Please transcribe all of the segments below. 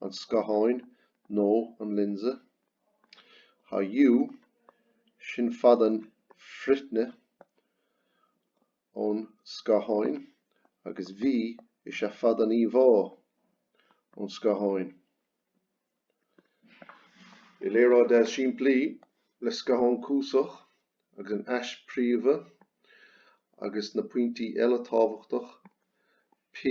an scatháin nó an lionsa. Tá U, sin fad an frithne ón scatháin agus V is ea fad an íomhá ón scatháin. I léaráid simplí, le scathán cuasach agus an ais phríomha agus na pointí eile tábhachtach P,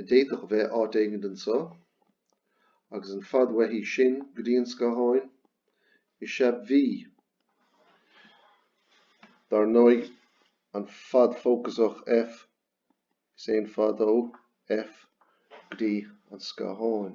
a d'fhéadfadh a bheith áit éigin anseo, agus an fad uaithi sin go dtí an scáthán, is ea V, dar ndóigh, an fad fócasach F. Is é an fad ó F go dtí an scátháin.